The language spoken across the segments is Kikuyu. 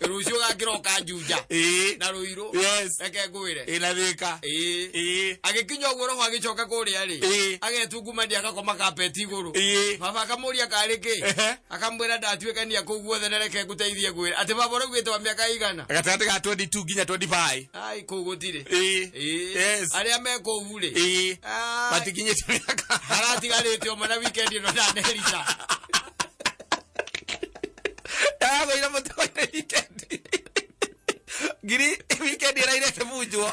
rucio gakira okanjuja ĩĩ na ruiru Yes. reke ngwire ĩna thĩka ĩĩ ĩĩ agĩkinya ũguo roho agĩcoka kũrĩa rĩ Ĩĩ. agetungumania agakoma kapeti igũrũ ĩĩ baba akamuria karĩ kĩ Ehe. akamwĩra ndatuĩkania kũu guothe na reke ngũteithie ngwĩra atĩ baba ũraugĩte wa mĩaka igana gatagatĩ ga 22 nginya 25 ai kũu gũtirĩ ĩĩ Ĩĩ. Yes. arĩa me kũu rĩ ĩĩ Ai, matikinyĩte mĩaka haratigarĩte o mana wikendi ĩno ndanerica ndagagũire mũtũire wikendi ngiri wikendi ĩrairete munjwo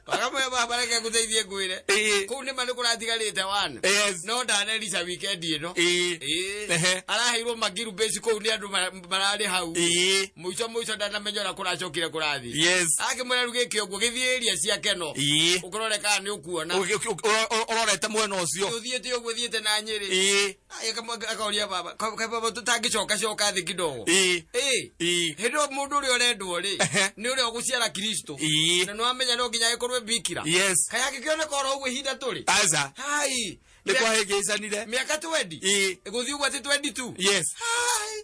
wakamwe baba reke ngũteithie ngwĩre Ĩĩ. kũu nĩma nĩkũratigarĩte wana Yes. no ndanerica wikendi ĩno Ĩĩ. Ĩĩ. Ehe. araheirwo magiru bĩci kũu nĩ andũ ma- mararĩ hau Ĩĩ. mũico mũico ndanamenya ũrĩa kũracokire kũrathiĩ Yes. akĩmwĩra rĩu gĩkĩ ũguo gĩthiĩ ĩria ciake no Ĩĩ. ũkũrore kana nĩ ũkuona Ũgĩ- ũgĩ- ũro- ũro- ũrorete mwena ũcio ũthiĩte ũguo thiĩte na nyĩrĩ Ĩĩ. Aya kamwe akaoria baba ka ka baba tũtangĩcoka coka thĩ kidogo ĩ ĩ ĩ hĩndĩ ĩyo mũndũ ũrĩa ũrendwo rĩ Ehe. nĩ ũrĩa ũgũciara kristo Ii. na nĩwamenya no nginya agĩkorwo bikira yes kaya angĩkĩoneka oro ũguo ihinda tũrĩ aza hai nĩ kwahĩngĩcanire mĩaka twendi Ii. gũthiĩ ũguo atĩ twendi tu yes Hai.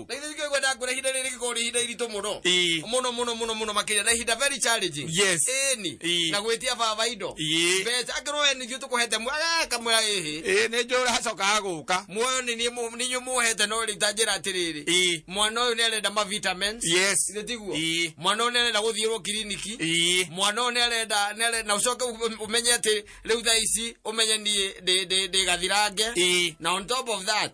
na ithe njũkĩ kwenda ngwĩra ihinda rĩrĩ rĩgĩkorwo rĩ ihinda iritũ mũno Ii. mũno mũno mũno mũno makĩria na ihinda very challenging Yes. ĩni Ii. na gwĩtia baba indo Ii. mbeca angĩrwo we nĩthiĩ tũkũhete mwega kamwĩra ĩhĩ ĩ nĩ njũra hacokaga gũka muoyo nĩ niĩ mũ- nĩ inyuĩ mũhete no rĩu tanjĩra atĩrĩrĩ Ii. mwana ũyũ nĩ arenda ma vitamins yes Githĩ tiguo Ii. mwana ũyũ nĩ arenda gũthiĩrwo kiriniki Ii. mwana ũyũ nĩ arenda nĩ arenda- na ũcoke ũ- ũmenye atĩ rĩu thaa ici ũmenye niĩ ndĩ- ndĩ- ndĩ gathirange Ii. na on top of that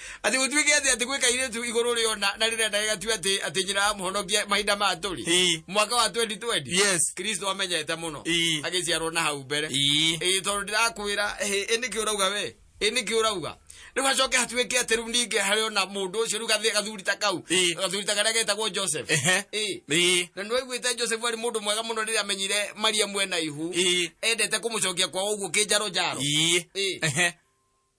Atĩ gũtuĩke atĩ atĩ gwĩ kairĩtu igũrũ rĩo na na rĩrĩa ndagĩgatue atĩ atĩ nyina amũhonokia mahinda ma tũrĩ Ii. mwaka wa 2020 Yes. kristo amenyete mũno Ii. agĩciarwo na hau mbere Ii. ĩĩ tondũ ndĩrakwĩra ĩ ĩ nĩkĩ ũrauga we ĩ nĩkĩ ũrauga rĩu hacoke hatuĩke atĩ rĩu ningĩ harĩ ona mũndũ ũcio rĩu gathĩ- gathuri ta kau Ii. gathuri ta karĩa getagwo joseph Ehe. Ĩĩ. Ii. na nä waiguä te joseph arä må ndå mwega må no rä rä a amenyire maria mwena ihu Ii. endete kå må cokia kwa å guo kä njaro njaro Ii. Ĩĩ. Ehe.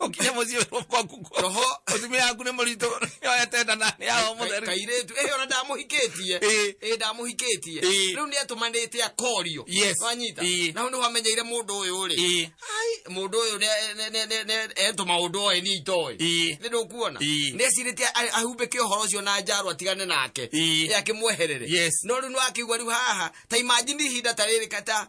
ukinya muciĩ wĩrwo kwaku kuo roho mũtumia yaku nĩ mũritũ yoete nda na nĩ yao Ka- mũtheru kairĩtu ĩhĩ ona ndamũhikĩtie Ĩĩ. ĩĩ ndamũhikĩtie Ĩĩ. rĩu nĩ atũmanĩte akorio Yes. wanyita Ĩĩ. na hau nĩho amenyeire mũndũ ũyũ rĩ Ĩĩ. Ai, mũndũ ũyũ nĩ- nĩ- nĩ- nĩ- nĩ- etũ maũndũ oĩ niĩ itoĩ Ĩĩ. nĩ ndũkuona Ĩĩ. nĩ acirĩte a- ahumbĩke ũhoro ũcio na njarwa atigane nake Ĩĩ. Ĩ akĩmweherere Yes. no rĩu nĩ akĩigua rĩu haha ta imajini ihinda ta rĩrĩ kata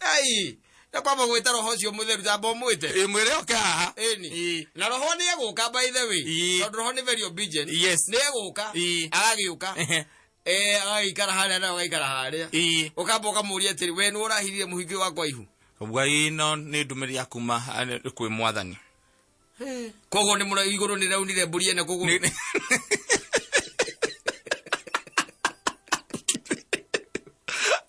ei na kwamba gwĩta roho ũcio mũtheru tamba ũmwĩte Ĩ, mwĩre oke haha Ĩni. Ĩ, na roho nĩ egũka by the way Ĩ. tondũ roho nĩ very obedient Yes. nĩ egũka Ĩ. agagĩũka ehe, eh agagĩikara harĩa na ũgaikara harĩa ĩ. ũkamba ũkamũria atĩrĩ we nĩ ũrahirire mũhingio wakwa ihu ngai ĩno nĩ ndũmĩrĩri ya kuma eh, kwĩ mwathani koguo nĩ mũra igũrũ nĩ raunire mbũri ene kũgũrũ Nĩ- nĩ-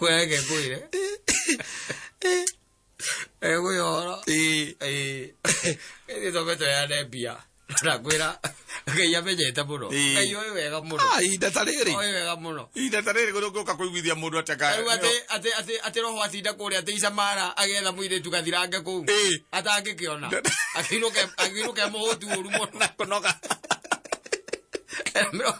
Wewe yake kuile. Eh kuyo horo. Eh. Eh. Ni to beto ya ne bia. Na kwira. Ngai amenyete muno. Ĩĩ. Ngai oĩ wega muno. Ah, ihinda ta rĩrĩ Oĩ wega muno. ihinda ta rĩrĩ gũrũ ngũka kũiguithia mũndũ ateka Rĩu atĩ atĩ atĩ atĩ roho atinda kũrĩa atĩ icamara agetha mũirĩtu gathirange kũu. Ĩĩ. Atangĩkĩona. Akĩinũke akĩinũke mũhũtu ũru mũno. kũnoga Mĩro-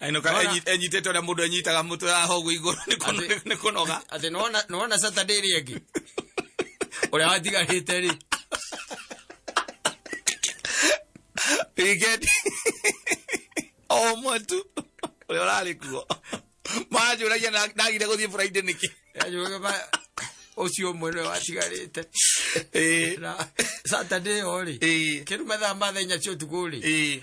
Aino ka Wala. enyit- enyitete ũrĩa mũndũ enyitaga mũtwe haha ũguo igũrũ nĩ kũno- Atĩ- nĩ kũnoga atä nona saturday ä ngä å rä a watigarä te rä wikendi o ũmwe tu ũrĩa ũrarĩ kuo manjũragia na- ndagire gũthiĩ buraindĩ nĩkĩ å cio å mwe nä watigarä te Ĩĩ, saturday o rä ĩĩ, kä ruma thaa mathenya cio tukå rä ĩĩ.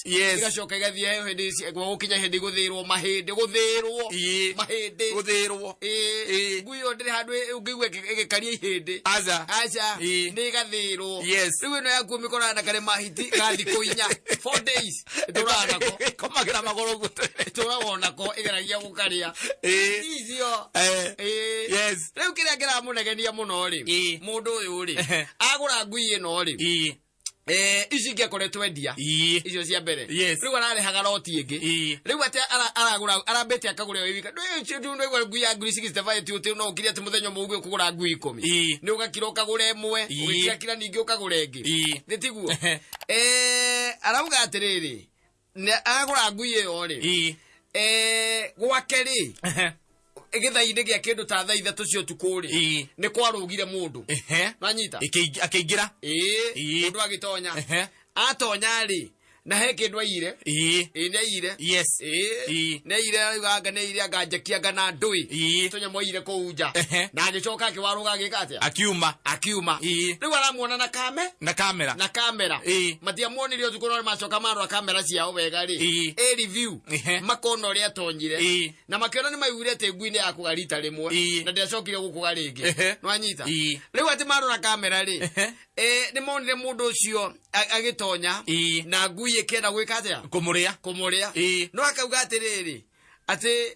fast Yes. igacoka igathiayo hĩndĩ ici- gũkinya hĩndĩ gũthĩrwo mahĩndĩ gũthĩrwo Ĩĩ. mahĩndĩ guthirwo Ĩĩ. Ĩĩ. ngui ĩyo ndĩrĩ handũ ĩ- ũngĩigua ĩgĩ- ĩgĩkaria ihĩndĩ aza aca Ĩĩ. nĩ ĩgathĩrwo Yes. rĩu ĩno yakuo mĩkorana na karĩ mahiti ga thikũ inya four days ĩtũraga nako komagira magoro gute ĩtũraga nako ĩgeragia gũkarĩa eh icio eh Ĩĩ. Yes. rĩu kĩrĩa kĩramũnegenia mũno rĩ Ĩĩ. mũndũ ũyũ rĩ Ehe. agũra ngui ĩno rĩ eh Eh, ici ingĩakoretwo endia Ii. icio cia mbere Yes. rĩu ararehaga roti ĩngĩ Ii. rĩu atĩ ara- aragũra arambĩte akagũra ĩyo wika ndũigua ngui ya ngiri cigicitebaya ti ũtĩ no ũkiri atĩ mũthenya ũmwe ũguo kũgũra ngui ikũmi Ii. nĩ ũgakira ũkagũra ĩmwe Ii. ũgĩkira kira ningĩ ũkagũra ĩngĩ Ii. nĩ tiguo Eh, arauga atĩrĩrĩ Nĩ- agũra ngui ĩyo rĩ ii Eh, gwake rĩ ehe, gĩthai-inĩ gĩa kĩndũ ta thaa ithatũ cia ũtukũ rĩ Ii. nĩ kwarũgire mũndũ ehe. nanyita Ĩkĩing- akĩingĩra ĩĩ Ii. mũndũ agĩtonya Ehe. atonya rĩ na he kĩndũ aiyire ii ĩĩ nĩ aiyire yes ĩĩ Ii. nĩ aiyire auganga nĩ aiyire anga njekia anga na ndũĩ Ii. tũnyamũ aiyire kũu nja Ehe. na agĩcoka akĩwarũga agĩka atĩa akiuma akiuma Ii. rĩu aramuona na kame na kamera na kamera Ĩĩ. matiamuonire ũtukũ no macoka marora kamera ciao wega rĩ Ĩĩ. ĩ review Ĩhĩ. makona ũrĩa atonyire Ĩĩ. na makĩona nĩ maiguire atĩ ngui nĩ yakũga rita rĩmwe Ĩĩ. na ndĩacokire gũkũga rĩngĩ Ĩhĩ. nwanyita Ĩĩ. rĩu atĩ marora kamera rĩ Ĩhĩ. eh, nĩ monire mũndũ ũcio a- agĩtonya Ĩĩ. na ngui ĩkĩenda gwĩka atĩa kå må rä a kũmũrĩa Ĩĩ. no akauga atĩrĩrĩ atĩ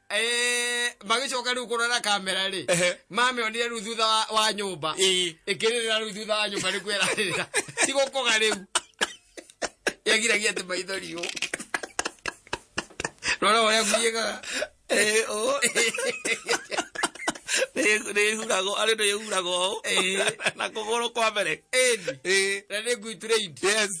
Eh, magĩcoka rĩu kũrora kamera rĩ Ehe. mamĩonire rĩu thutha wa- wa nyũmba Ĩĩ. ĩkĩrĩrĩra rĩu thutha wa nyũmba nĩkuo ĩrarĩrĩra tigũkoga rĩu yagiragia atĩ maitho riũ rora ũrĩa guiĩkaga Eh, oh. Nĩ- nĩhuragwo arĩ nĩhuragwo ũũ. Eh. na kũgũrũ kwa mbere ĩni Eh, na nĩ ngui trained yes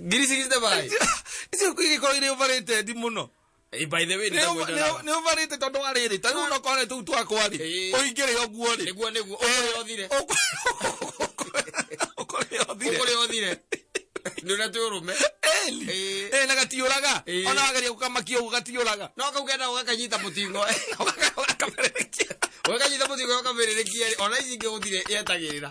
ngiri cigiri na bai icio igiko iri uvarite ndi muno Eh, by the way nĩ ndagwenda nawe. nä å varä te tondå wa rä rä tarä u no kwarä tå u twakwa rä Ĩĩ. å ingä rä oguo rä nĩguo nĩguo ũkũrĩa ũthire å kå rä othire ũkũrĩa ũthire nĩũrĩa twĩ ũrũme Ĩĩ. na gatiå raga Ĩĩ. ona wageria gå kamakia å guo gatiå raga no kau kenda ũgakanyita mũtingo ũgakanyita mũtingo ũkamĩrĩrĩkia ona ici ingĩ gũthire yetagĩrĩra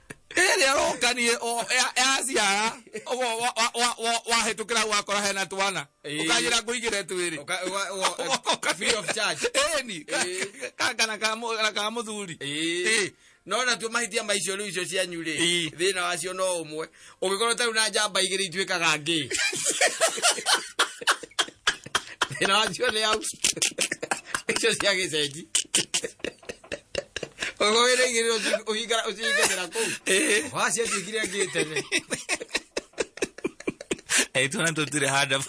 ĩrĩ aroka niĩ o- ya- yaciara ũguo wa- wa- wa- wa- wahĩtũkĩra gwakora hena twana Ĩĩ. ũkanjĩra ngũigĩre twĩrĩ Ũka- ũga- ũga- Ũka- free of charge. ĩni Ĩĩ. kana ka mũthuri Ĩĩ. Ĩĩ. no natuo mahĩtia maicio rĩu icio cianyu rĩ Ĩĩ. thĩna wacio no ũmwe Ũngĩkorwo tarĩ na njamba igĩrĩ ituĩkaga ngĩ. Thĩna wacio nĩ au. Icio cia gĩcenji. Ũngĩkorwo wĩna igĩrĩ ũci- ũhinga- ũcihingagĩra kũu. Waciatuĩkire ngĩ tene. Aitwana tũtirĩ handa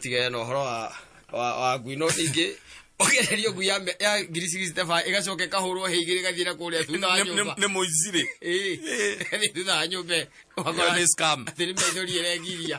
tigere na ũhoro wa wa wa ngui no ningĩ ũgererio ngui ya mĩ- ya ngiri cigiciteba ĩgacoka ĩkahũrwo hĩ igĩrĩ ĩgathiĩ na kũrĩa thutha wa nyũmba nä må icirä Ĩĩ, ĩgathiĩ thutha wa nyũmba ĩyo. Ũgakora Ĩyo nĩ scam. atĩ nĩ maithori ĩrengiria